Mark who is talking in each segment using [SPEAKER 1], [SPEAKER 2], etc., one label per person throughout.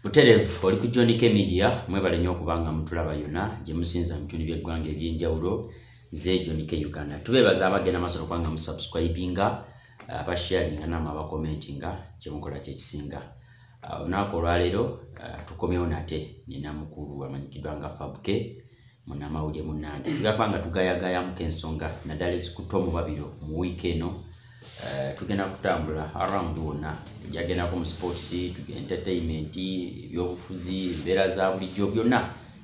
[SPEAKER 1] buterevu oli ku john k media mwebale nnyo okuba nga mutulaba yona gye musinza mu bitundu by'eggwanga eby'enjawulo ze john k uganda tubeebaza abagenda maaso nokuba nga musubscribinga abasharinga namu abakomentinga kyemukola kyekisinga uh, olunaku olwaleero uh, tukomyewo nate nina mukulu amanyikiddwa nga fabke munamawulire munange tugamba nga tugayagayamuko ensonga naddala ezikutte omubabiro mu wiiki eno eh, tugenda kutambula around wonna tujagendako mu sports entertainment ebyobufuzi embeera za bulijjo byonna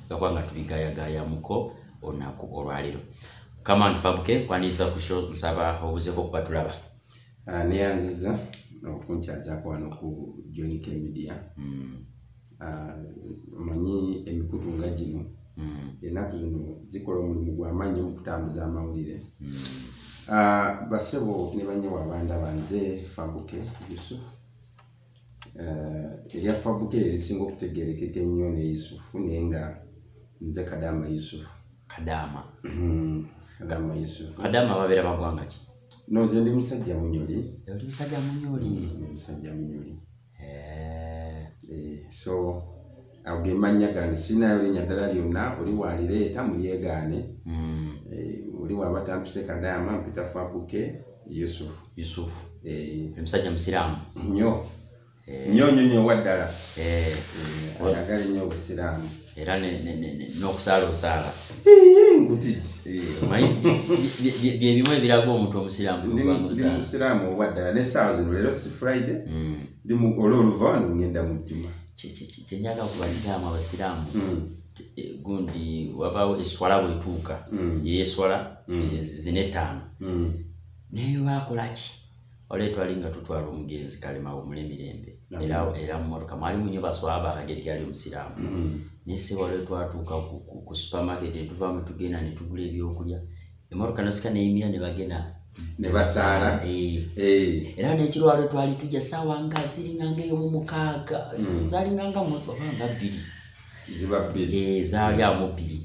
[SPEAKER 1] gakuba nga tubigayagayamuko olunaku olwaleero kama ntufabuke kwaniriza kusho nsaba obuzeko okuba tulaba ah, neyanziza
[SPEAKER 2] okunkyazako wano ku jonika media mm. Ah, omanyi emikutu nga gino hmm. enaku zino zikola omulimu gwamaanyi mukutambuza amawulire hmm. ah, basebo nebanyewo abanda banze fabuke yusuf eh, erya fabuke erisinga okutegerekeka ennyo ne yusufu naye nga nze kadama yusufu kadama
[SPEAKER 1] hmm,
[SPEAKER 2] kadama yusufu kadama babeera bagwanga
[SPEAKER 1] ki noze ndi musajja
[SPEAKER 2] munyoli
[SPEAKER 1] ndi musajja munyoli
[SPEAKER 2] eh. Eh, so awo ge mannya gange sirinayo linnya ddala lyonna oli walireeta mulyegaane hmm. eh, oli waba tampise kadaama mpita fabuke yusufu yusufu
[SPEAKER 1] omusajja musiraamu nyo nyo nyo
[SPEAKER 2] nyo waddala ayagala nnyo obusiraamu era
[SPEAKER 1] n'okusaalusaala byebimu ebiraga omuntu omusiraamumusiraamu
[SPEAKER 2] owaddala nesaawa zino leero si friday mm. ol oluva ngenda mujjuma kyenyaga
[SPEAKER 1] ku basiraamu abasiraamu mm. e, gundi wabaawo eswala bwetuuka mm. yeyeswala e, zine etaano naye bakolaki wali etwali nga tutwala omugenzi kalema omule mirembe era era mumotoka mwali munyo baswaba akageri gali omusiraamu mm-hmm. naye se wali twatuuka ku supermarket etuva mu tugenda ne tugula ebyokulya emotoka nasika neyimira ne bagena ne basaala
[SPEAKER 2] eh. Eh.
[SPEAKER 1] era nekirwalo twali tujja saawa nga ziringanga eyo mu mukaaga mm. zalinganga mubanga bbiri ziba bbiri
[SPEAKER 2] eh, zaali amu bbiri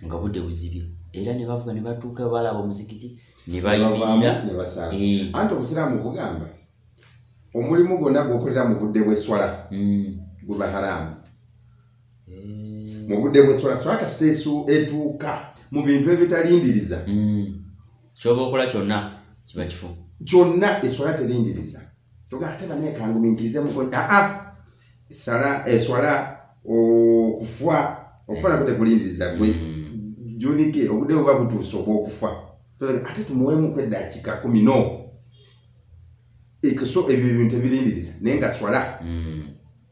[SPEAKER 1] nga budde buzibye era ne bavuga ne batuuka balaba omuzikiti ne bayimirira ne basala eh.
[SPEAKER 2] anti obusiraamu bugamba omulimu gwonna gwokolera mu budde bw'esswala hmm. guba haraamu eh. mu budde bw'esswala swala kasita esu etuuka mu bintu ebitalindiriza hmm.
[SPEAKER 1] kyoba okola kyonna kiba kifu kyonna esswala
[SPEAKER 2] terindiriza toga ate banaye kanguminkize mukonya aa ah, ah. sala eswala okufa okufa nakote kulindiriza gwe mm. junike obude buba butuuse obwokufa ate tumuwemu kwedakika kumi no ekiso ebyo ebintu ebirindiriza naye nga swala mm.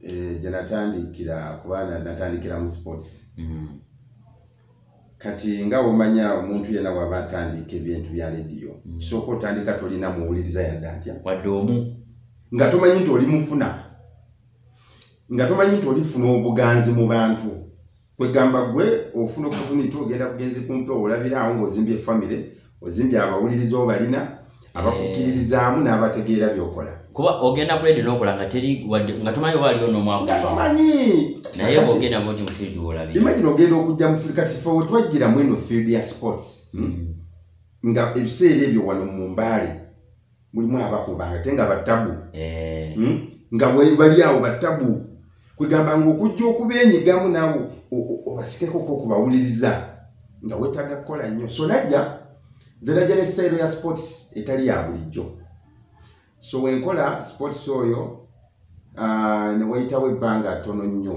[SPEAKER 2] eh, gye natandikira kuba natandikira mu sports mm. kati nga omanya omuntu yena waba atandika ebintu bya lediyo mm. kisooka otandika tolina muwuliriza yadde atya wadde omu
[SPEAKER 1] nga tomanyi nti
[SPEAKER 2] oli mufuna nga tomanyi nti olifuna obuganzi mu bantu kwegamba gwe ofuna opportunity ogenda bugenzi kumpe olabira awo ngaozimbye famire ozimbye abawuliriza obalina abakukkiririzaamu eh. n'abategeera byokola kuba ogenda kuledi
[SPEAKER 1] nokola nga teri wadde nga tumanyi oba aliwo nomwakumanyi
[SPEAKER 2] naye ogenda
[SPEAKER 1] boti mu field wolabi imagine ogenda okujja mu
[SPEAKER 2] field kati fe wetwajjira mweno field ya sports hmm? hmm. nga ebiseera ebyo wano mu mbaale mulimu abakuba ngate nga batabu eh. hmm? nga bali awo batabu kwegamba nga okujja okubenyigamu nawe obasikeko ko kubawuliriza nga wetaga kukola nnyo so najja nze najja ne sayiro ya sports etali ya bulijjo so wenkola sports oyo ah, newayitawo ebbanga tono nnyo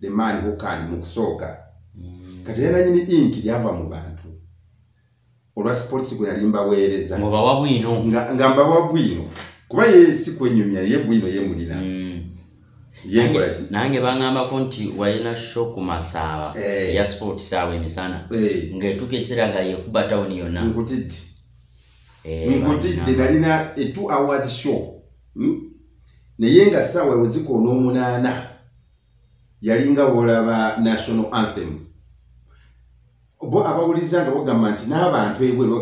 [SPEAKER 2] the man who can mu kusooka mm. kati era nanyini ink lyava mu bantu olwa sports gwe nali mbaweereza nga mbawa bwino
[SPEAKER 1] nga mbawa bwino
[SPEAKER 2] kuba ye si kwenyumya ye bwino ye mulina mm. yekolaki nange bangambako nti
[SPEAKER 1] walina sho ku masaaba hey. Eh. ya sport saawa emisana hey. Eh. ngaetuka ekiseera nga yekuba tawuni yonna nkutidde eh,
[SPEAKER 2] nkutidde nalina e two hours show hmm? naye nga saawa wezikoona omunaana yalinga wolaba national anthem bo abawuliza nga bagamba nti n'abantu ebweru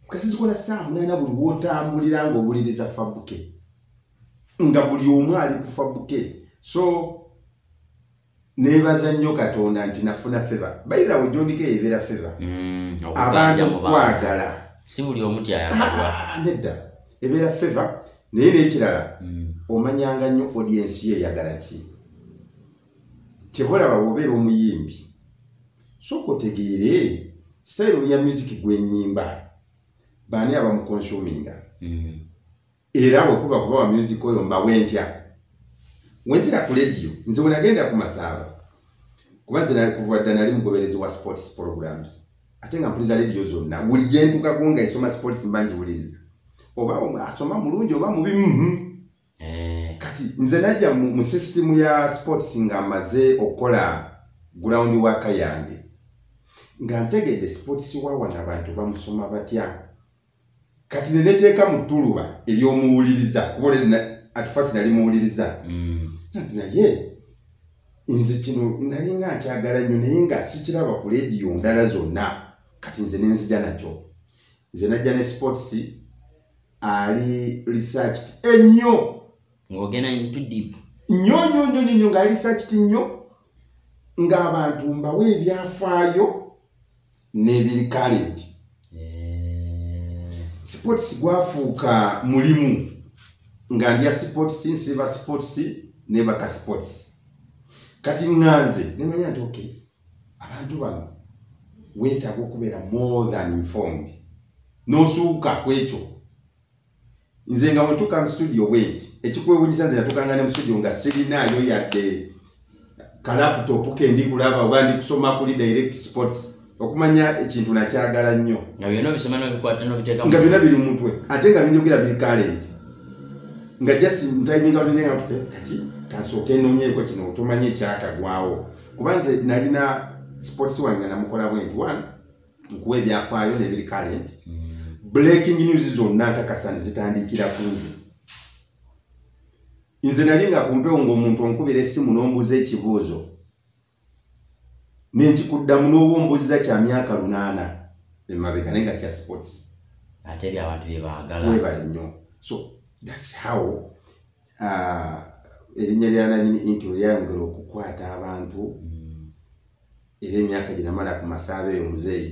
[SPEAKER 2] kasi zikola saa munaana buli wotambulira nga owuliriza fabuke nga buli omu ali ku fabuke so nebaza nnyo katonda nti nafuna feva bayiza we gyondiko eyo ebeera feva mm, abantu kwagala si buli omu
[SPEAKER 1] tyayagadwa ah, nedda
[SPEAKER 2] ebeera feva naye nekirala hmm. omanyanga nnyo audiensi yo eyagala ki kyevolaba wobeera omuyimbi soka otegeere sitayiro ya muziki gwenyimba baani abamukonsuminga hmm. era bwekuba kuba wa muziki oyo mbawe ntya wenzira ku lediyo nze wenagenda ku masaaba kuba nze nali kuva dda nali mugoberezi wa sports programs ate nga mpuliza lediyo zonna buli gyentukako nga esoma sports mba ngiwuliriza oba asoma mulungi oba mubi mhm. eh. kati nze najja mu system ya sports nga amaze okukola ground waka yange nga ntegedde sports wawana abantu bamusoma batya kati neneteeka mu ttuluba ery'omuwuliriza kuba olere atufasi nali muwuliriza mm. nti naye nze kino nali nga nkyagala nnyo naye nga sikiraba ku lediyo ndala zonna kati nze nenzija nakyo nze najja ne sports ali researched ennyo ng'ogenda
[SPEAKER 1] into deep nnyo nnyo nnyo nnyo nnyo
[SPEAKER 2] ngaali researched nnyo ng'abantu mbawo ebyafaayo nebiri current eh. sports gwafuuka mulimu nga ndya sports nsiba sports nebaka sports kati ŋŋanze nemanya nti ok abantu bano weetaaga okubeera more than informed n'osuuka ku ekyo nze nga wetuka mu studio bwenti ekikwewunyisa nze natukanga ne mu studio nga sirinaayo yadde kalaptop kendi kulaba oba ndi kusoma kuli direct sports okumanya ekintu nakyagala nnyo nga
[SPEAKER 1] byona biri mumutwe
[SPEAKER 2] ate nga binjogera biri kalenti nga just ntiminga bineaa kati kansooka enonyeeko kino otomanya ekyakagwawo kuba nze nalina sports wange namukola bwenti one nkuwa ebyafaayo nebiri current mm. breaking news zonna nkakasa nti zitandiikira ku nze nze nali nga kumpewo ngaomuntu onkubira essimu n'ombuuza ekibuuzo nenkikuddamu n'oba ombuuziza kya myaka lunaana emabega naye nga kya sports ate ebyo
[SPEAKER 1] abantu byebaagala webale nnyo
[SPEAKER 2] so thats how uh, erinnya lyananyini inti lyayongera okukwata abantu mm. era emyaka gye namala ku masaaba eyo muzeeyi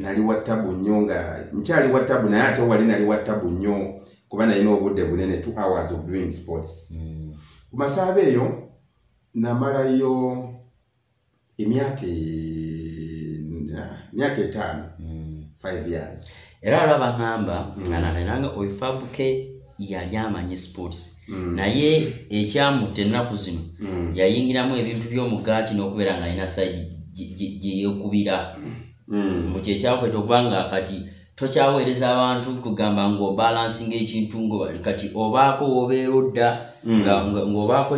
[SPEAKER 1] nali wa tabu nnyo
[SPEAKER 2] nga nkyali wa tabu naye ate wali nali wa tabu nnyo kuba nalina obudde bunene two hours of doing sports hmm. ku masaaba eyo namalayo emyaka emyaka etaano hmm. five years era alaba ngamba
[SPEAKER 1] hmm. nga nalina nga oifabuke yali amanyi sports mm. naye ekyamutta ennaku zino mm. yayingiramu ebintu by'omugaati n'okubeera nga alina saidi gyeyekubira mm. mu kyekyakweta okuba nga kati tokyaweereza abantu kugamba ngaobalansinga ekintu ngobali kati obaako wobeera odda mm. ngaobaako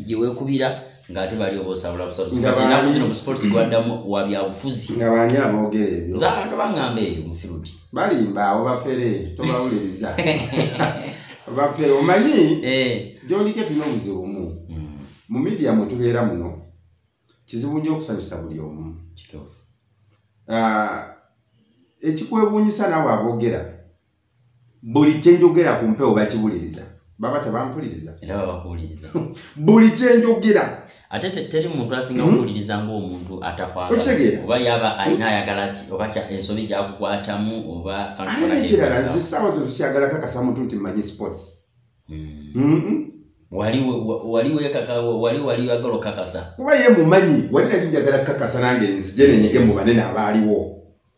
[SPEAKER 1] gyewekubira ng'ate bali oba osabula busabuzi kati ennaku zino mu sports gwaddamu wa byabufuzi nga baani aboogera
[SPEAKER 2] ebyo za abantu bang'amba eyo
[SPEAKER 1] mu field balimba abo
[SPEAKER 2] bafere tobawuliriza bafere omanyi eh. gyolike tulina obuzibu bumu hmm. mu midiya mwe tubeera muno kizibu nnyo okusanyusa buli omu ah, ekikwewuunyisa naawe aboogera buli kyenjogera ku mpewo bakiwuliriza baba tebampuliriza
[SPEAKER 1] buli
[SPEAKER 2] kyenjogera ate teri
[SPEAKER 1] muntu asinga hmm? kuwuliriza ngaomuntu atakwaaoba yaba alina ayagala ki oba ensobi gyakukwatamu obaekirala nze
[SPEAKER 2] saawa zo tukyagala kakasa muntu nti manyi sports hmm. Hmm?
[SPEAKER 1] wali wali wekaka wali wali wagala okakasa kuba ye mumanyi
[SPEAKER 2] wali nali njagala kakasa nange nzije nenyege mu banene abaaliwo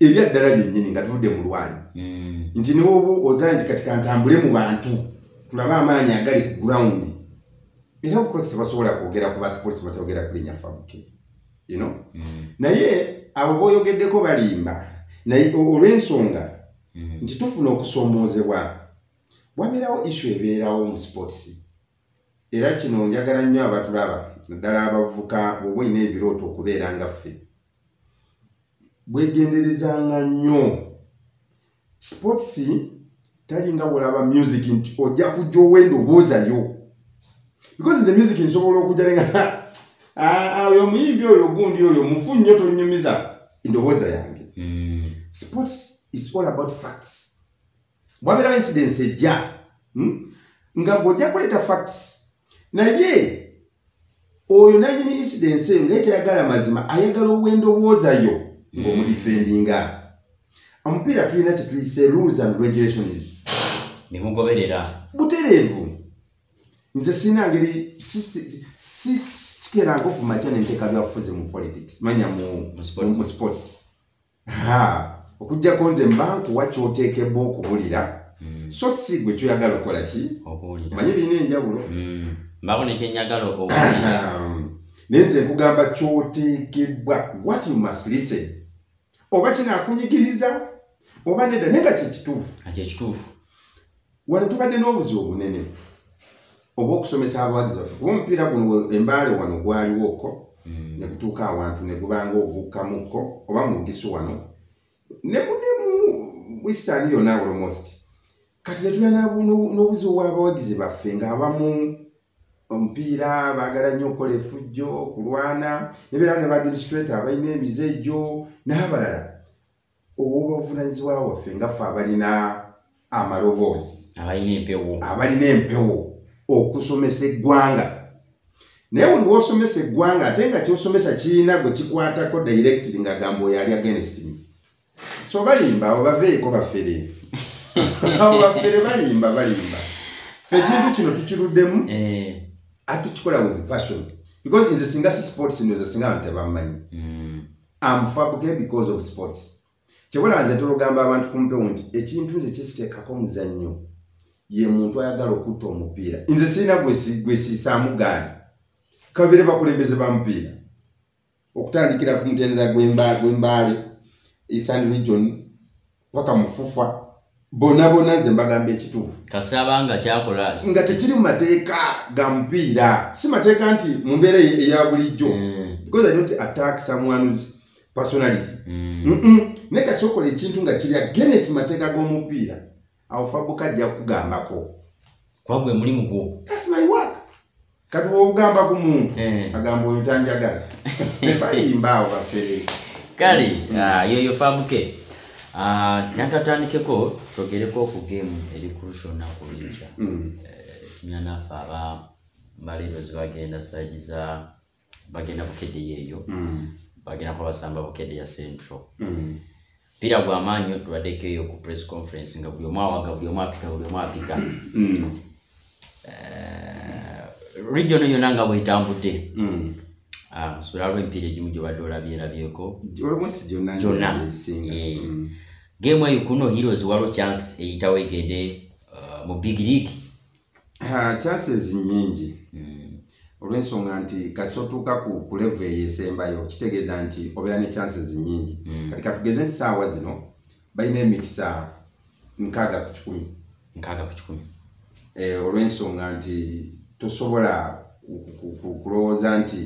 [SPEAKER 2] ebyaddala byennyini nga tuvudde mu lwali hmm. nti newoba ogaa nti kati kantambule mu bantu tulabe amaanyi agali ku gurawundi era obukozi tebasobola kwogera ku basipolisi batayogera kulinya fabuke yno hmm. naye abo boyogeddeko balimba naye olw'ensonga hmm. nti tufuna okusoomoozebwa wabeerawo isu ebeerawo mu sipolisi era kino njagala nnyo abatulaba naddala abavuka bwoba olina ebirooto okubeera nga ffe bwegenderezanga nnyo sports talinga wolaba music nti ojja kujja owenda obuuzayo because the music nsobola okujja nenga ah, ah, oyo omuyimbi oyo ogundi oyo mufu nnyo tonyumiza endowooza yange hmm. sports is all about facts wabera incidents ejja hmm? nga gojja kuleta facts naye oyo nanyini incidents eyo nga etayagala mazima ayagala obwendowooza yo ngomudifendinga omupiira tulina kyetuyise rules and regulations nemugoberera
[SPEAKER 1] butereevu
[SPEAKER 2] nze sina ngeri sikeranga okumakya nenteka byafuzi mu politics manya mu sports okujjako nze mba nkuwa kyoteekebwa okubulira mm. so si gwe kyoyagala okukola ki manye birina enjawulo mm. mbako
[SPEAKER 1] nekyenyagala naye nze
[SPEAKER 2] nkugamba kyoteekebwa what you must listen oba kinakunyigiriza oba nedda naye nga kyekituufu wano tubadde n'obuzibu obunene obwokusomesa abawagizi baffe kuba omupiira guno embaale wano gwaliwo ko hmm. negutuuka awantu negubanga ogukkamukko oba mugisu wano nemunemu western yona almost kati netuyana n'obuzibu bwabawagizi baffe ngaabamu omupiira baagala nnyo okukola efujjo kulwana nebeera ne baadministrator abalina emize gyo n'abalala obw'obuvunaanyizibwa bwaffe nga ffe abalina amaloboozi abalina empewo abalina empewo okusomesa eggwanga naye buli wosomesa eggwanga ate nga kyosomesa kirina gwe kikwatako directly ngagamba oyo ali agenestimi so balimba abo baveeko bafere abo bafere balimba balimba fe ekintu kino tukiruddemu eh. atukikola with passion because nze singa si sports ndoza singa abantu tebamanyi mm. am fabuke because of sports kyebula nze tulugamba abantu kumpewo nti ekintu nze kyesitekako omuzannyo ye muntu ayagala okutta omupiira nze sirina gwesiisaamu gaani kabire bakulembeze ba mupiira okutandikira ku mutendera gwembaale esan region paka mufufa bona bona nze mbagamba ekituufu kasaba nga kyakola
[SPEAKER 1] nga tekiri mu mateeka
[SPEAKER 2] ga mupiira si mateeka nti mu mbeera eya bulijjo mm. because i don't attack someone's personality mm. naye kasi okola ekintu nga kiri agenesi mateeka g'omupiira awo fabuka ajja kukugambako kwagwe
[SPEAKER 1] mulimu gwo that's my work
[SPEAKER 2] kati wogamba ku muntu eh. agamba oyo tanjagala balimbawo bafere kale mm.
[SPEAKER 1] ah, yoyo famuke ah, nakatandikeko twogereko ku gemu eri kurusha olunaku lwija mm. eh, tunyanafe aba mbalerozi bagenda saidi za bagenda bukedde yeeyo mm. bagenda kuba basamba bukedde ya central mpira gwa maanyi nyo tubaddeko eyo ku press conference nga buli omu awaga buli omu apika buli omu apika mm. eh, region yona nga bwetambudde mm. ah, nsubira lwo empiira egimu gyobadde olabyerabyeko gyona eh. mm. game eyo kuno heroes waliwo chance eyitawo egende uh, mu big league
[SPEAKER 2] chances nyingi hmm. olwensonga nti kasi otuuka ku kulevu eyo esembayo kitegeeza nti obeera ne chances nyingi hmm. kati katugeze nti saawa zino balina emikisa nkaaga ku kikumi nkaaga ku kikumi eh, olwensonga nti tosobola kulowooza nti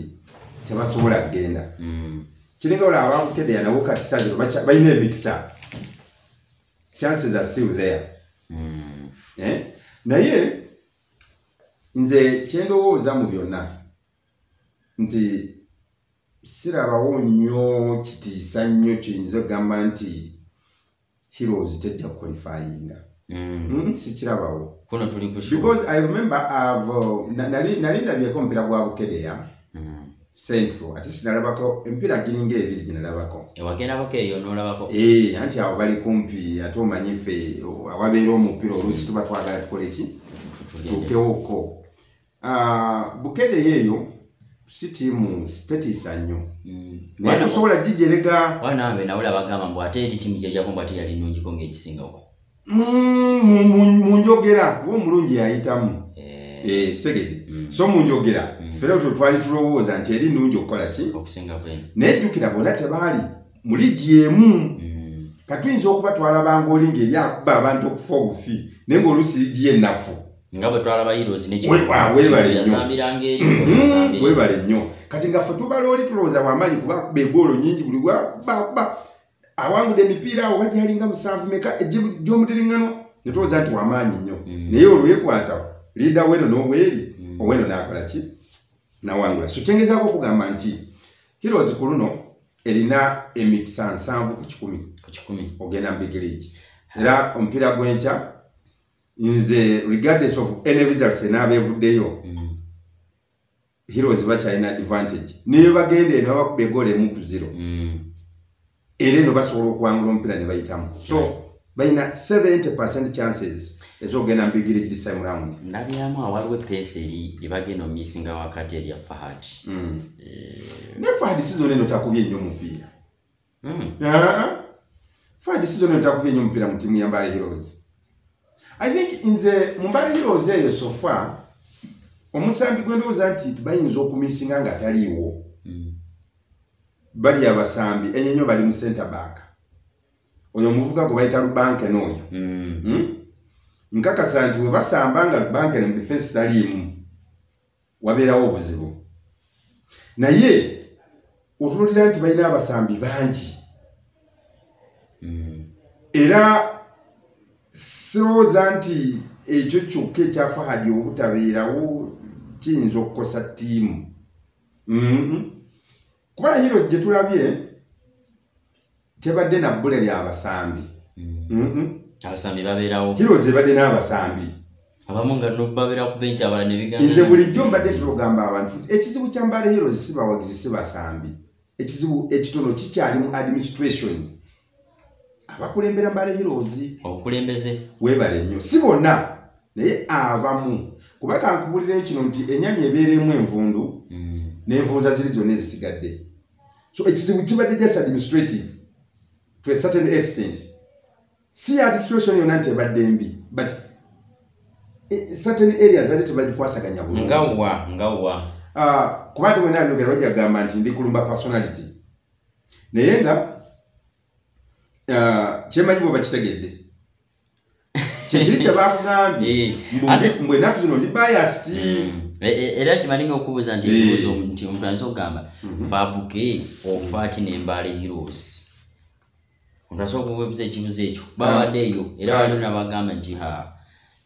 [SPEAKER 2] tebasobola kugenda hmm. kiringa olaba abakukedeya nabo kati saazi balina emikisa chances are still there mm. eh? naye nze kyendowooza mu byonna nti sirabawo nnyo kitiisa nnyo kiyinza okugamba nti heroes tejja kukolifayinga mm. mm, sikirabawo because i remember uh, nali ndabyeko omupira gwa bukedeya mm. central ate sinalabako emipiira giringa ebiri ginalabako ewagerabako eyo
[SPEAKER 1] nolabako ee eh, anti awo bali
[SPEAKER 2] kumpi ate omanyi ffe awabeera omupiira oluusi tuba twagala tukole ki tutuukewoko ah, bukedeyo eyo si tiimu tetiisa nnyo mm. naye tosobola gijerega wanange nawula bagamba
[SPEAKER 1] mbu ate eri tiimu gyejako mbu ate yali nungiko ngaegisingako mm,
[SPEAKER 2] mu njogera kuba omulungi yayitamu eh. Eh, kitegedde mm. so mu njogera mm. fere otwo twali tulowooza nti eri nungi okukola ki naye
[SPEAKER 1] jjukira bona
[SPEAKER 2] tebaali muli gyemu kati oyinza okuba twalabanga oli ngaeri akuba abantu okufa obufi naye ngaolusi ligi yennafu
[SPEAKER 1] nga bwe twalaba
[SPEAKER 2] hiroeswebale nnyo kati nga fe tubala oli tulowooza wamaanyi kuba begoolo nyingi buli wabakuba awangudde emipiira awo bajalinga musanvu meka gyomudiriŋŋano ne tulowooza nti wamaanyi nnyo mm. naye olwekwata liida weno n'obweri mm. oweno n'akola ki nawangula so kyengezaako okugamba nti heroes ku luno erina emikisa nsanvu ku kikumi ku kikumi ogenda mu big league era omupiira gw'enkya nze regardless of any results enaaba evuddeyo mm. heroes bakyalina advantage naye bagenda eno babakuba egoolo emu ku zero mm. era eno basobola okuwangula omupiira ne bayitamu so mm. balina 70 percent chances ezogenda mubigire kiri same round ndabyamu awaliwo
[SPEAKER 1] epeesa eri ebagenda omisinga wakati erya fahad mm.
[SPEAKER 2] eh. ne fahad sizona eno takubye nnyo omupiira Mm. Ah, Fadi season etakuba enyo mupira mu timu ya Mbale Heroes. I think in the Mbale Heroes eyo so far omusambi gwendo ozanti bayinza okumisinga nga taliwo. Mm. Bali abasambi enyo nyo bali mu center back. Oyo muvuka ko bayita lubanke noyo. Mm. Hmm? Nkaka santi webasamba nga lubanke ne defense talimu. wabeerawo obuzibu naye otunulira nti balina abasambi bangi hmm. era sirowooza nti ekyo kyokka ekyafahadi obutabeerawo kiyinza okukosa ttiimu hmm. kuba heroes gyetulabye tebadde na bbula lya basambi mm.
[SPEAKER 1] abasambi babeerawo hiros ebadde n'abasambi
[SPEAKER 2] abamu nga
[SPEAKER 1] nobabeera ku benki abala nebiganze bulijjo mbadde
[SPEAKER 2] tulogamba abantu ekizibu kya mbaale hiros si bawagizi si basambi ekizibu ekitono kikyali mu administration abakulembera mbaale hiros obukulembeze
[SPEAKER 1] webale nnyo
[SPEAKER 2] si bonna naye abamu kuba kankubulirayo kino nti enyanya ebeeremu envundu mm. nenvunza ziri zonna ezisigadde so ekizibu kibadde just administrative to a certain extent si ya situation yona nti ebadde mbi but eh, certain areas bali tebagikwasaganya bulungi nga wa nga wa
[SPEAKER 1] ah, kuba
[SPEAKER 2] nti mwena abyogera bajja kugamba nti ndi kulumba personality naye nga Ah, kyemanyi bwe bakitegedde kyekiri kyebakugambye eh, mbu enaku zino ndi bayasti hmm. eh, eh, era
[SPEAKER 1] kimanyi nga okubuuza nti ebibuuzo nti omuntu ayinza okugamba mhm. fabuke ofaaki nembaala heroes omuntu asobola okubuuza ekibuzo ekyo babadde eyo era waliwo nabagamba nti ha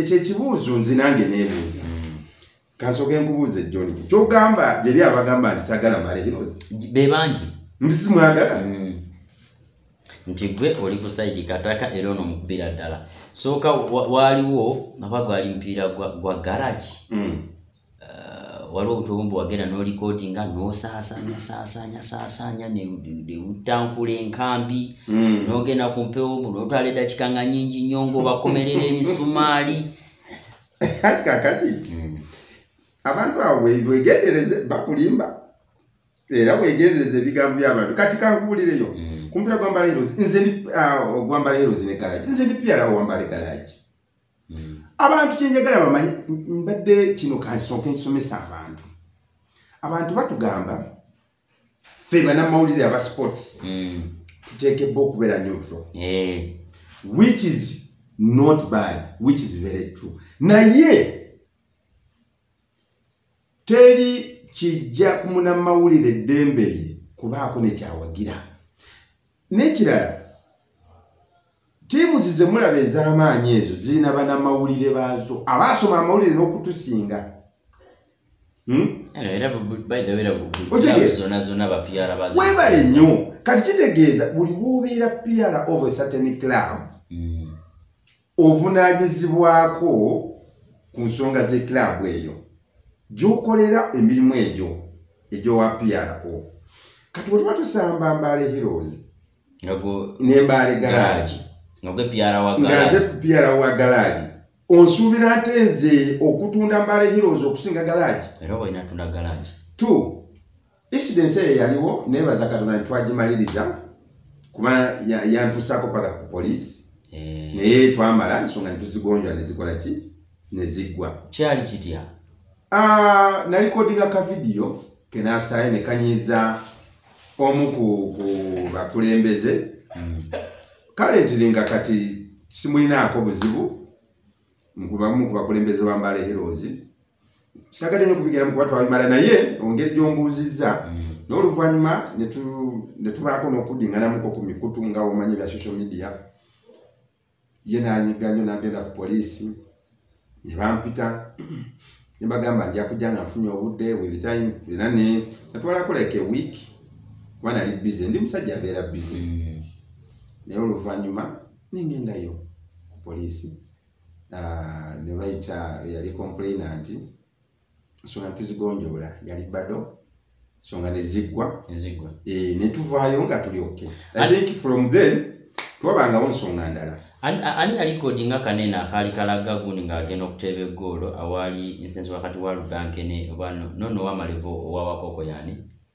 [SPEAKER 2] ekyo ekibuuzo nze nange nebuuza kansoke nkubuuze joni kyogamba jeri abagamba nti sagala malehirozi bebangi
[SPEAKER 1] nti simwagala
[SPEAKER 2] mm.
[SPEAKER 1] nti gwe oli kusaidi kataka era ono mukubira ddala sooka waaliwo naba gwali mupiira gwa garage mm. waliwo obutubumu bwewagenda nolikodinga nosaasanya saasanya saasanya newutankula enkambi hmm. nogenda ku mpewo mu notwala edakika nga nyingi nnyo ngaobakomerera emisumaali
[SPEAKER 2] kakati hmm. abantu abo wegendereze bakulimba era wegendereze ebigambo byabantu kati kankubulireyo hmm. kumpira gwambala erozi nze ndi ah, gwambala erozi ne garagi nze ndi piyalawo wambala egaragi abantu kyenjagala bamanyi mbadde kino kansonke nkisomesa abantu abantu batugamba fe banamawulire aba sports mm. tuteekebba okubeera neutral eh. which is not bad which is very true naye teri kijja ku munamawulire eddembe lye kubaako nekyawagira n'ekirala tiimuzi ze mulaba ez'amaanyi ezo zirina banamawulire baazo abaasoma amawulire n'okutusinga
[SPEAKER 1] hmm? webale nnyo
[SPEAKER 2] kati kitegeeza buli wobeera piara of a certain club hmm. ovunaanyizibwako ku nsonga z'ekilaabu eyo gy'okolera emirimu egyo egy'owa pro kati bwe tuba tusamba mbaale heroes nembaale garaagi nga
[SPEAKER 1] nze piara wa
[SPEAKER 2] garaagi onsuubira nte nze okutunda mbaale heroes okusinga garaagi t incidence eyo yaliwo nebaza katonda ntitwagimaliriza kuba yantusako paka ku polisi eh. naye twamala nsonga nituzigonjwa nezikola ki neziggwa kyali kitya
[SPEAKER 1] ah, nalikodinga
[SPEAKER 2] ka vidiyo kenasaye nekanyiza omu ku bakulembeze hmm. kale ntiri nga kati simulinaako buzibu nkubamu ku bakulembeze bambala herozi sagade nyo kubigera mukuba twabimala naye ongeri gyombuuzizza mm. n'oluvannyuma netubaako n'okuddinganamuko ku mikutu nga omanyi bya social media ye nanyiga nyo nagenda ku poliisi ne bampita ne bagamba nja kujja nga nfunye obudde with time era ne natwalako like a week kuba nali busy ndi musajja abeera busy mm. naye oluvannyuma nengendayo ku poliisi uh, ne bayita eyali complainant ensonga netuzigonjoola yali bado songa neziggwa eh, netuvaayo nga tuli oke i think from then twabangawo nsonga ndala ani yalikodi
[SPEAKER 1] nga kanene akaali kalaga gundi ng'agenda okuteeba eggoolo awaali insensi wakati wa ludankene oba nono wamalevo owawakoko yani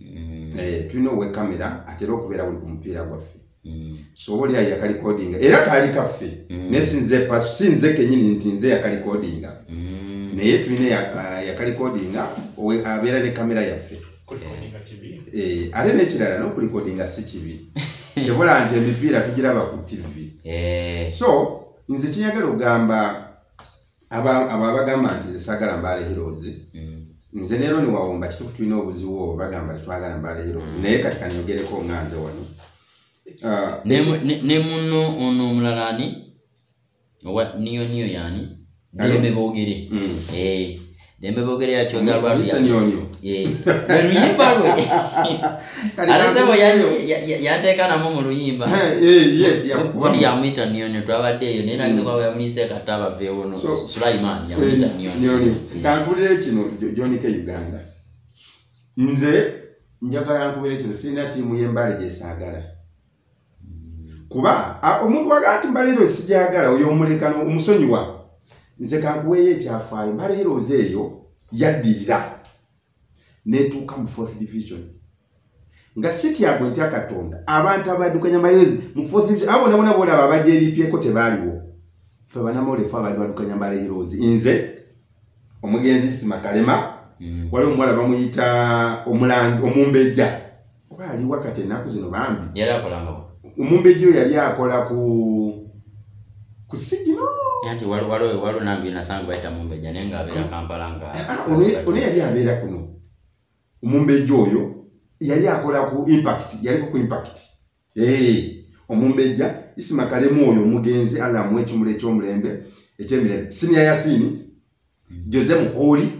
[SPEAKER 2] mm. eh, tulina owe kamera atera okubeera buli ku mupiira gwaffe mm. so oba oli ayo yakalikodinga era kaali kaffe mm. naye sinze paso sinze kenyini nti nze yakalikodinga naye tulina yakalikodinga abeera ne kamera yaffe eh, ate nekirala nokulikodinga si kibi kibula nti emipiira tugiraba ku tv eh. so nze kinyagala ogamba abo abagamba nti zisagala mbaale heroes mm. nze leero niwawomba kitufu tulina obuziwo bagamba tetwagala mbaale heroes mm. naye kati kaniyogereko nga nze wano ah,
[SPEAKER 1] ne muno ono omulala ani owa niyo niyo yani dembe bogere mm. eh, dembe bogere ya chonga lwa lisa nyonyo eh na luyimba lwe alisa bo ya ya teka na mumu luyimba eh yes ya
[SPEAKER 2] kwa ya mwita
[SPEAKER 1] nyonyo twa de yo nena mm. kwa ya mwise kataba ve wono sulaiman ya eh, mwita nyonyo nyonyo mm. kankule kino
[SPEAKER 2] joni ke uganda nze njagala nkubere kino sina timu yembale jesagala kuba omuntu waga nti mbaleero esigyagala oyo omuleka omusonyiwa nze kankuweeyo ekyafaayo mbaleero oze eyo yaddirira netuuka mu fourth division nga sityabwe ntya katonda abantu abadukanya mbaleezi mu fourth division abo nabona bolaba abajeripyeko tebaaliwo fe banamoolefu abali badukanya mbaleerozi nze omugenzi sima kalema mm. waliwo omuwala bamuyita omulangi omumbejja oba ali wakati enaku zino bambi omumbejja
[SPEAKER 1] oyo yali
[SPEAKER 2] akola ku ku sigino nti waliwo
[SPEAKER 1] nambi nasanga bayita mumbejja naye nga abeera kampala nga ah, ah, ono yali
[SPEAKER 2] abeera kuno omumbejja oyo yali akola ku impact yaliko ku impact Hey, omumbejja isima kalemu oyo omugenzi allah amuwa ekimula ekyomulembe ekyemirembe sinia yasini jose muholi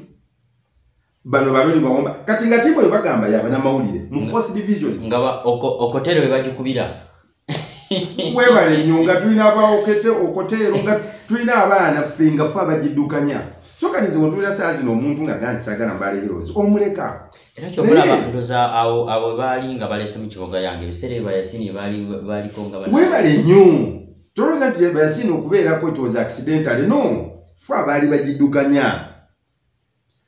[SPEAKER 2] bano baloni bawomba kati nga timu oyo bagamba yabanamawulire mu fourth division nga okotero
[SPEAKER 1] webagikubira
[SPEAKER 2] webale nyo nga tulina abaokete okotero nga tulina abaana ffe nga fe abagidukanya so kati nze wetulina saa zino omuntu nga gandi sagala mbale heroes omuleka era kyoba olaba
[SPEAKER 1] ndoza awo awo baali nga balese mu kiboga yange ebiseera ebyo bayasini baali baaliko nga webale nnyo
[SPEAKER 2] tolowooza nti bayasini okubeerako it was accidentally no fe abaali bagiddukanya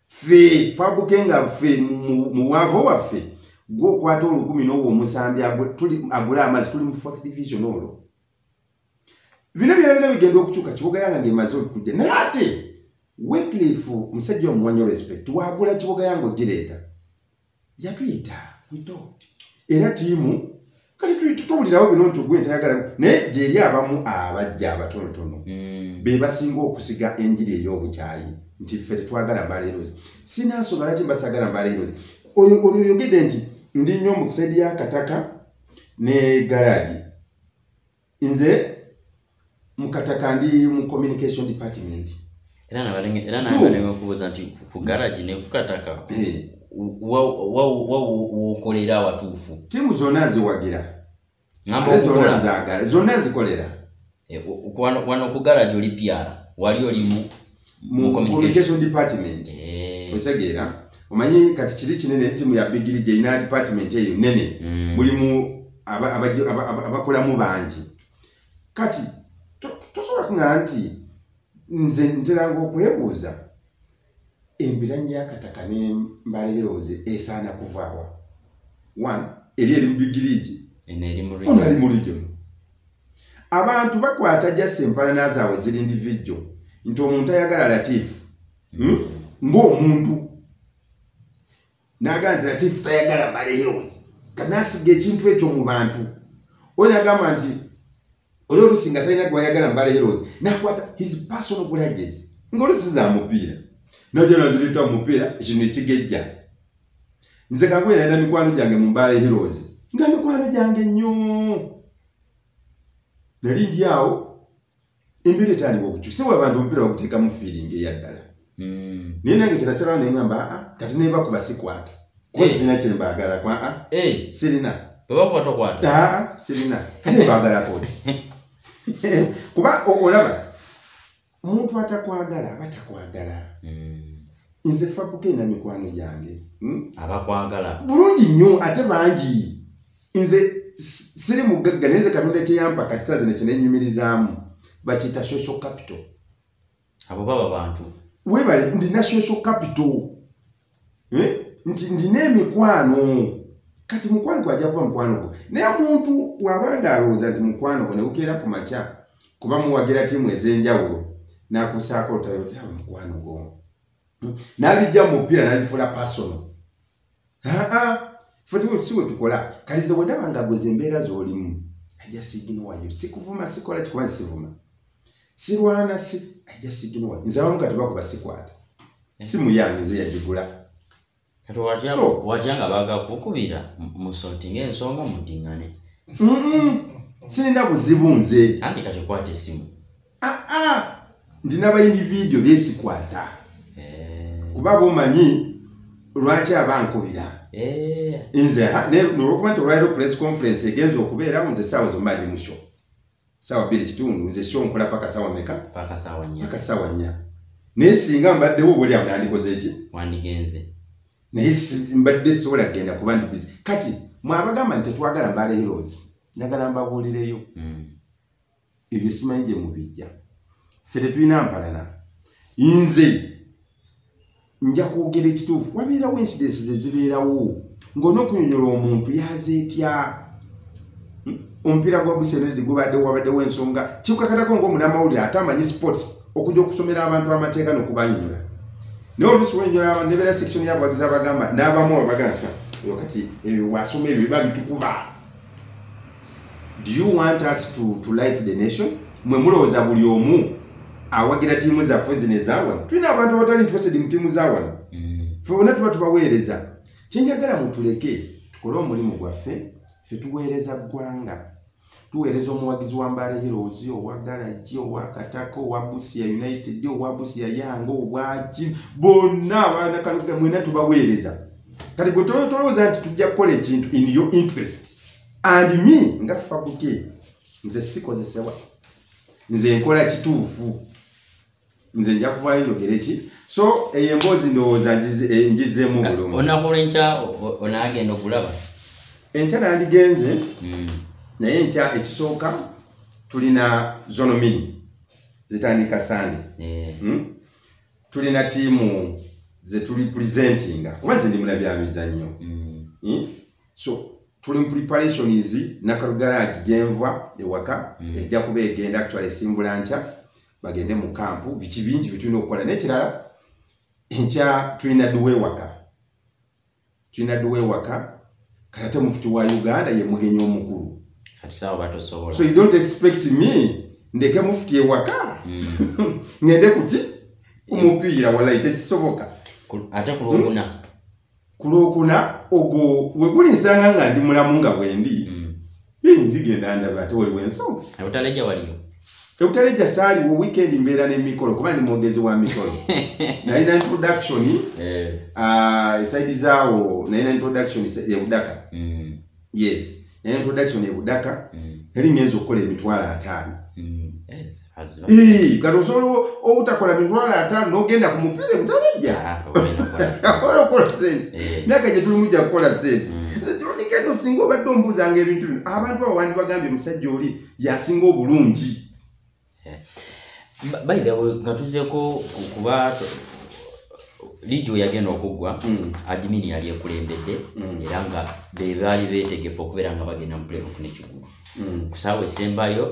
[SPEAKER 2] fe fabuke nga fe mu bwavu waffe gwe okwata olukumi n'owo omusambi agule amazzi tuli mu fourth division olwo bino byona byona bigenda okukyuka kibuga yanga ngemaze okujja naye ate wicliff musajja omuwanyo respect wagula kibuga yanga ogireeta yatuyita witot era tiimu kati tutubulirawo bino nti ogwe ntayagala naye gyeri abamu abajja abatonotono hmm. be basinga okusiga enjiri ey'obukyayi nti ffe tetwagala mbaleerozi sinansonga laki mbasagala mbaleerozi oyo oyogedde nti ndi nyombo kusaidi ya kataka ne garage nze mukataka ndi mu communication department era nabalinga
[SPEAKER 1] era nabalinga kubuza nti ku garage ne kukataka eh. wa wa wa wokolera watufu timu zona ziwagira
[SPEAKER 2] ngamba zona zagala zona zikolera eh,
[SPEAKER 1] wano ku garage oli piara wali olimu mu
[SPEAKER 2] communication department eh. otegeera omanyi kati kiri kinene timu ya bigiri gyerina department eyo nene mm. mulimu abakolamu bangi kati tosobola kuŋa nti nze nteranga okwebuuza embiranyi yakataka nembala erooze esaana kuvaawa one eri eri mu bigiriigi ono ali mu region abantu bakwata jasi empalana zaabwe ziri ndivijjo nti omuntu ayagala latifu hmm? ngaomuntu naga nti latifu tayagala maleero kanasiga ekintu ekyo mu bantu oli nagamba nti oli olusi nga talina gwayagala mbale heroes nakwata his personal grudges ngaolusi za mupiira najala zirita mupiira ekino ekigejja nze kagwera era mikwano gyange mu mbaala ehirozi nga mikwano gyange nnyo nali ndi awo embeera etandika okukyusa wa abantu omupiira baguteekamu fiiringi eyaddala hmm. naye nange kirakyalaa naye ngamba aa ah, kati naye bakuba sikwata kuba sirina eh. kyembaagala kwa a ah, eh. sirina
[SPEAKER 1] ah, sirina
[SPEAKER 2] kati mbaagala kodi kuba olaba omuntu atakwagala aba takwagala mm. nze fabuka ena mikwano gyange hmm? abakwagala
[SPEAKER 1] bulungi nnyo
[SPEAKER 2] ate bangi nze siri mugagga naye nze katonda kyeyampa kati saa zino kyenenyumirizaamu bakiyita social capital abo
[SPEAKER 1] baba bantu webale ndina
[SPEAKER 2] social capital eh? nti ndina emikwano kati mukwano gwe ajja kuba mukwano gwe naye omuntu wabanga alowooza nti mukwano gwe negukeera ku makya kuba muwagira tiimu ez'enjawulo nakusaako otayotaa mukwano gwo hmm? nabijja mu mupiira nabifuula pasono aa si bwe tukola kalize wendabanga gweza embeera z'olimu ajasiiginowayo sikuvuma sikola kikuba nsivuma sirwana si i just you know nze abamu kati bakuba sikwata eh. simu yange nze yagigula kati
[SPEAKER 1] watya so, watya nga baga kukubira musoti ng'ensonga mudingane mm -mm.
[SPEAKER 2] sirina buzibu nze anti kati kwata esimu
[SPEAKER 1] aa ah, ah. ndi
[SPEAKER 2] nabayindi vidiyo byesikwata eh. kuba bomanyi lwaki abankubira eh. nze nolwokuba nti olwaliro press conference egenza okubeerawo nze saawa zomba ndi mushoka sawa biri kitundu nze sho nkola paka sawa meka paka sawa nya paka
[SPEAKER 1] sawa nya
[SPEAKER 2] naye singa mbadde wo buli amnandi koze ki wandigenze
[SPEAKER 1] naye
[SPEAKER 2] mbadde sola genda kuba ndi busy kati mwabagamba nti twagala mbale heroes njagala mbabuulireyo mm. ebyo simanyi gye mubijja ffe tetulina mpalana nze nja kwogera ekituufu wabeerawo incidence zezibeerawo ngaolina okunyonyola omuntu yaza etya hmm? omupiira gwa busenedi gubadde wabaddewo ensonga kikukakatako ngaomunamawulire ate amanyi sports okuja okusomera abantu amateeka nokubanyonyola naye oluusi wenyonyola abantu nebeera section yabawagizi abagamba n'abamu abagana ti kati ebyo wasoma ebyo biba bitukuba do you want us to, to lie to the nation mwe mulowooza buli omu awagira tiimu zaffe zino ezawano tulina abantu abatali interested mu tiimu zawano mm. fe bona tuba tubaweereza kyenjagala mutuleke tukole omulimu gwaffe fe tuweereza ggwanga tuweereza omuwagizi wa mbaale heroes owa galagi owa kataka owa busia united owa busia yanga obwaki bonna abanakalga mwena tubaweereza kati gwe tolowooza nti tujja kukola ekintu in your interest and me nga fabuke nze sikozesebwa nze nkola kituufu nze nja kuvaayo njogere ki so eyo emboozi ndowooza njizemu eh, bulungi onaku lwenkya
[SPEAKER 1] onaagenda okulaba enkya
[SPEAKER 2] nandigenze hmm. naye enkya ekisooka tulina zonomini zitandika sande eh. hmm? tulina tiimu zetuli presentinga kuba nze ndi mulabyamizannyo hmm. so tuli mu preparations nakaru garage gyenva ewaka mm. ejja kuba egenda actually esimbula nkya bagende mu kampu biki bingi bitulina okukola n'ekirala enkya tulina duwa ewaka tulina duwa ewaka kayate mufuti wa uganda ye mugenyi omukulu
[SPEAKER 1] so you don't expect
[SPEAKER 2] me ndeke mufuti ewaka mm. ngende kuki kumupiira walayi tekisoboka ate
[SPEAKER 1] kulwokuna hmm? ku lwokuna
[SPEAKER 2] ogwo weguli nsanga nga ndi mulamu nga bwendi hmm. ndigenda ndaba ate waliwo ensonga ebutaleja waliyo
[SPEAKER 1] ebutaleja
[SPEAKER 2] saaliwo weekend mbeera nemikolo kuba ndi mwogezi wa mikolo nalina introduction eh. ah, esaidi zaawo nalina introduction ebudaka hmm. yes naye introduction ebudaka nali mm. ngenza okukola emitwalo ataano mm. kati osobola obutakola mitwalo ataano nogenda ku mupiira mutaleja ah, okola sente eh. myaka gyetulimu ja kukola sente onikendo mm. singa obadde ombuuzanga ebintu bino abantu awo wandibagambye omusajja oli yasinga obulungi eh.
[SPEAKER 1] by the way nga tuzeko kuba lijo yagenda okuggwa hmm. adimini yali ekulembedde hmm. era nga bebaali betegefu okubeera nga bagenda mu playoff nekigulu hmm. kusaawa esembayo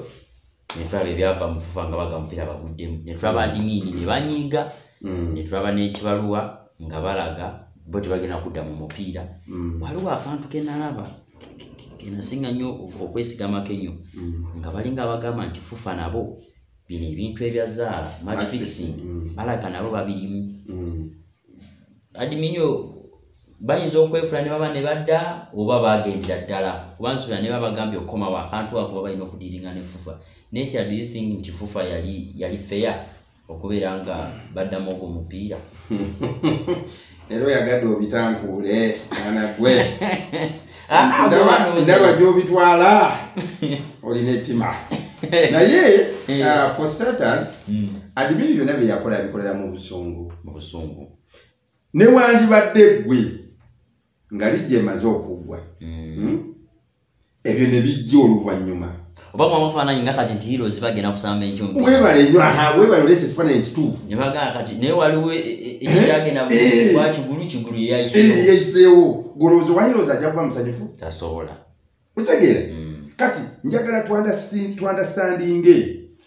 [SPEAKER 1] netulaba ebyava mufufa nga baga mupiira baguddemu netulaba adimini nebanyiiga netulaba n'ekibaluwa nga balaga bo tebagenda kudda mu mupiira mm. waliwo akantu kenalaba enasinga nnyo okwesigamako enyo mm. nga balinga abagamba nti fufa nabo bino ebintu ebyazaala matfixing mm. balaga nabo babirimu mm. adminyo bayinza okwefula ne baba ne badda oba bagendera ddala kuba nsubira ne babagambye okukomawo akantu akuba balina okudiringa ne fufa nature do you think nti fufa yali yali feya okubeera nga baddamu ogwo mupiira
[SPEAKER 2] era oyagadde obitankuule mwana gwe ah, ah, ndaba gyobitwala olina ettima naye eh. ah, for starters hmm. adimini byonna byeyakola yabikolera mu busungu mu busungu newandibadde gwe nga lijja emaze okuggwa mm. hmm? ebyo ne bijja oluvannyuma oba mwa mufaananyi
[SPEAKER 1] nga kati nti hirozi bagenda kusamba ekyuma webale nyo aha webale
[SPEAKER 2] olese ekifaananyi ekituufu ne bagamba kati naye
[SPEAKER 1] waliwo e, e, e, ekyagenda wa kigulu kigulu yeyayiseewo
[SPEAKER 2] golowooza owa hirozi ajja kuba musanyufu tasobola
[SPEAKER 1] otegeera
[SPEAKER 2] mm. kati njagala twandastandinge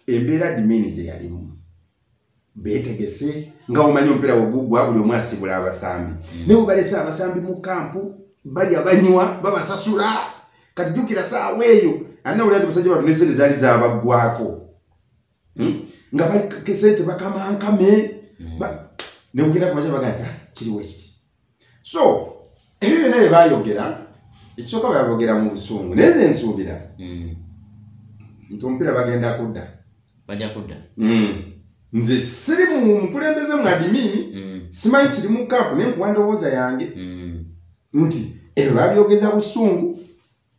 [SPEAKER 2] embeera dimini gye yalimu betegese nga omanyi omupiira wegugwa buli omu asibula abasambi mm. naye webalese abasambi mu kampu bali abanywa babasasula kati jukira saawa eyo anna wulira ti musajja watu nesente zaali zabaggwako hmm? nga bakesente bakamankame hmm. newugenda kumaca baga nti ah, kiriwo ekiti so ebyo byona byebayogera ekisooka bayabogera mu busungu naye ze nsuubira hmm. nti omupiira bagenda kudda baja kudda
[SPEAKER 1] hmm. nze
[SPEAKER 2] siri mu mukulembeze mu adimini hmm. simanyi kiri mu kampu naye nkuwa ndowooza yange nti ebyo babyogeza busungu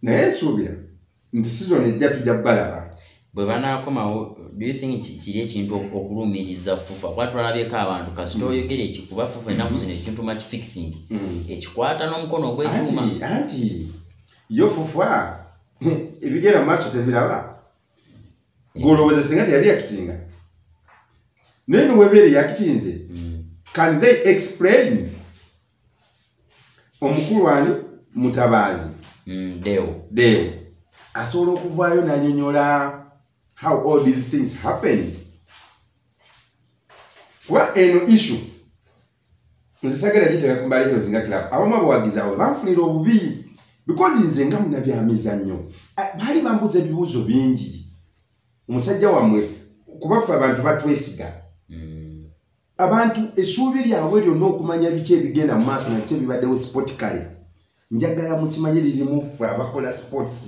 [SPEAKER 2] naye nsuubira nti sizoni ejja tujja balaba bwe banaakomawo
[SPEAKER 1] doything kiri ekintu okulumiriza fufa kuba twalabyeko abantu kasita mm. oyogera ekikuba fufa enaku zino ekintu much fixing mm. ekikwata n'omukono ogwekyuma anti
[SPEAKER 2] yo fufa ebigera mu maaso tebiraba golowooza singa teyali yakitinga naye niwebeere yakitinze mm. can they explain omukulu ani mutabaazi mm, deo deo asobola okuvaayo nanyonyola how all these things happen kuba eno issue nze sagala giteka ku mbaleero zinga club abamu abawagizi awo banfunira obubi because nze nga munabyamizannyo baali bambuza ebibuuzo bingi omusajja wammwe kubaffe abantu batwesiga mm. abantu esuubi lyabwe lyonna okumanya biki ebigenda mu maaso nabiki ebibaddewo sipotikale njagala mukimanye lirimu ffe abakola sports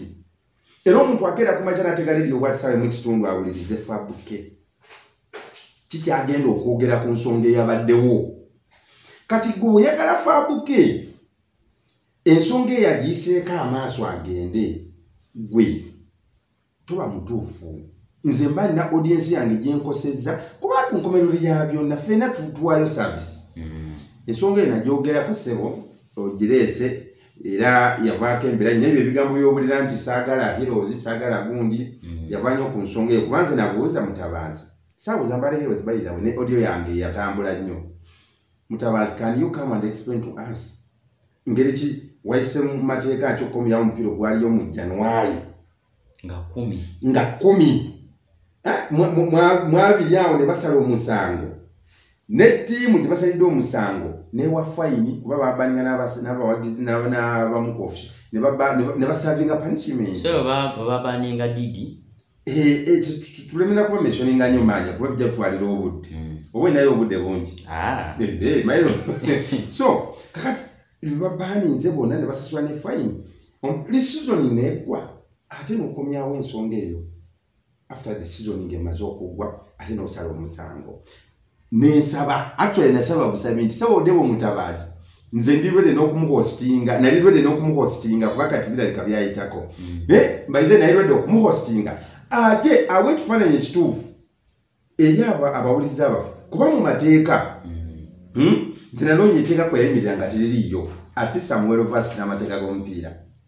[SPEAKER 2] era omuntu akeera kumaja nategala ebyo obwatisabe mu kitundu awulirize fabuke kikyagenda okwogera ku nsonga eyabaddewo kati gwe weyagala fabuke ensonga eyagiyiseeko amaaso agende gwe tuba mutuufu nze mba nina audiensi yange gyenkosezza kuba ku nkomerero ya byonna fena tutuwayo service mm. ensonga eyo nagyogerako sebo ogireese era yavaako embera nyina ebyo ebigambo byobulira nti saagala heroes saagala gundi mm. yavanyo ku nsonga eyo kubanze nabuuza mutabanzi sabuuza mbala heroes bayizawe ne audio yange yatambula nnyo Mutabazi, can you come and explain to us? Ngeri ki waise mu mateeka akyo komi yawo mupiro gwaliyo mu January. Nga kumi. Nga kumi. Eh, mwabiri awo ne basala omusango. Ne tiimu gye basalidde omusango newa fayini kuba babaninga n'abawagizi n'abamukofi ne basavinga punishment. So
[SPEAKER 1] babaninga didi? Eh, eh,
[SPEAKER 2] tulemera kuba meshoninga nyo manya kuba bijja kutwalira obudde hmm. oba naye obudde bungi ah. eh, mailo so kakati babaninze bona ne basasula ne fine li season negwa ate nokomyawo ensonga eyo after the season ngemaze okugwa ate nosala omusango nensaba actually nasaba busabi nti sebo debo mutabazi nze ndi ready n'okumuhostinga nali ready n'okumuhostinga kuba kati birabika byayitako mm. naye by then nali ready okumuhostinga ate awa ekifaananyi ekituufu eri abo abawuliza abafu kuba mu mateeka mm. hmm, nti nanoonya eteeka kweyayimirira nga teririiyo ate samuel vas n'amateeka g'omupiira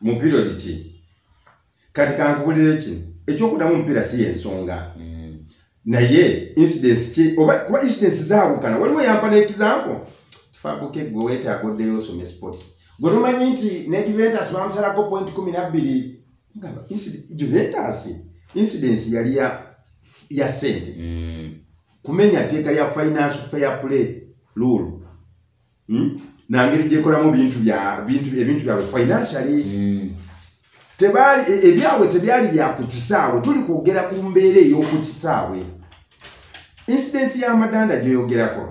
[SPEAKER 2] mu period ki kati kankubulire ki ekyokudamu omupiira si yensonga mm. naye incidence ki oba kuba incidence zaabukana waliwo yampa n'ekizampo tufabuke gwe wetaaga oddeyo osome sport gwe lumanyi nti ne juventus bamusalako point kumi nabbiri nga juventus incidence yali ya ya sente mm. kumenya tteeka lya finance fair play lulu hmm? nangeri gyekolamu bintu byabwe financially hmm. tebaali e, ebyabwe tebyali byakukisaawe tuli kwogera ku mbeera ey'okukisaawe insidensi y'amadanda gyoyogerako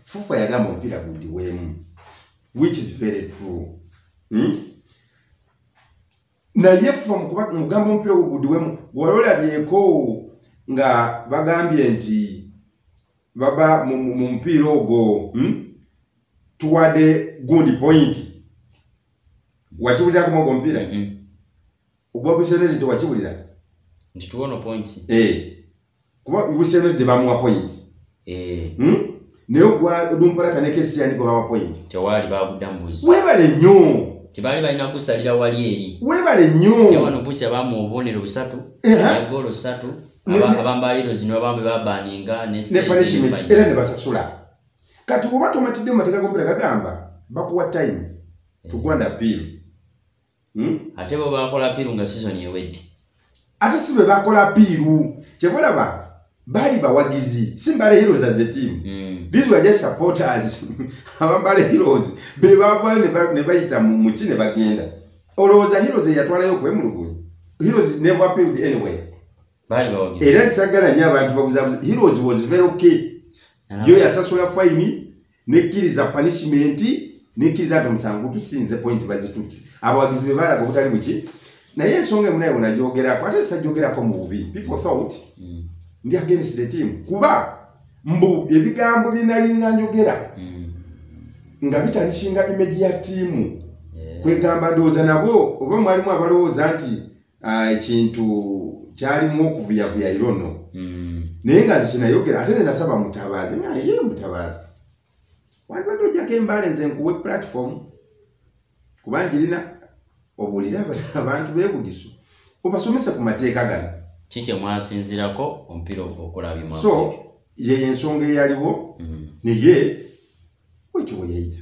[SPEAKER 2] fufa yagamba omupiira gundi weemu which is very true hmm? naye fufa mugamba omupiira ogwo gundi weemu gwewali olabyeko nga bagambye nti baba mu mupiira ogwo hmm? tuwade gundi pointi wakiwulira kuma ogwo mupiira mm-hmm. ogwa busenere tewakiwulira nti tuwono
[SPEAKER 1] pointi eh.
[SPEAKER 2] kuba busenere tebamuwa pointi eh. hmm? naye ogwalumpalaka nekesi yandi gwebawa pointi tewali bagudambuzi
[SPEAKER 1] webale nnyo
[SPEAKER 2] tebali balina
[SPEAKER 1] kusalira wali eri webale nnyo
[SPEAKER 2] wano busi abamu
[SPEAKER 1] obubonero busatu egolo satu Aba- abamba heroes nibo bambi babaninga ne ne sente punishment ne era ne
[SPEAKER 2] basasula kati oba tomatidde mu mateeka gompera gagamba bakuwa time tugwanda appeal Hmm?
[SPEAKER 1] ate bo bakola piru nga season ewedde ate si
[SPEAKER 2] be bakola apiiru kyebalaba baali bawagizi si mbale heroes as a team Mm. these were just supporters abambale heroes be bavaayo ne ba- ne bayita mu muki ne bagenda olowooza hirozi eyatwalayo okwemulugunya hirozi never appeared anywhere
[SPEAKER 1] era kisagala nyo abantu
[SPEAKER 2] babuzabuza hirozi was very okay yo yasasula fayini nekkiriza punishment nekkiriza nti omusango tusinze point bazitutte abawagizi be balaga obutali buki naye ensonga emunaye wenajogerako ate sajjogerako mu bubi people thought mm. ndi against the team kuba mbu ebigambo byenalinga njogera hmm. nga bitalikinga imeji ya tiimu eh. kwegamba ndowooza nabo oba mwalimu abalowooza nti ah, ekintu kyalimu okuvuyavuya irono hmm. naye nga zikinayogera ate zenasaba mutabaazi naye mutabaazi wandibadde ojjako embale nze nkuwe platform kuba njirina obuulira abantu bebugisu obasomese ku mateeka gano ki kyemwasinzirako
[SPEAKER 1] omupiira okulabima so
[SPEAKER 2] yeyo ensonga eyaliwo mm. naye wekyo weyayita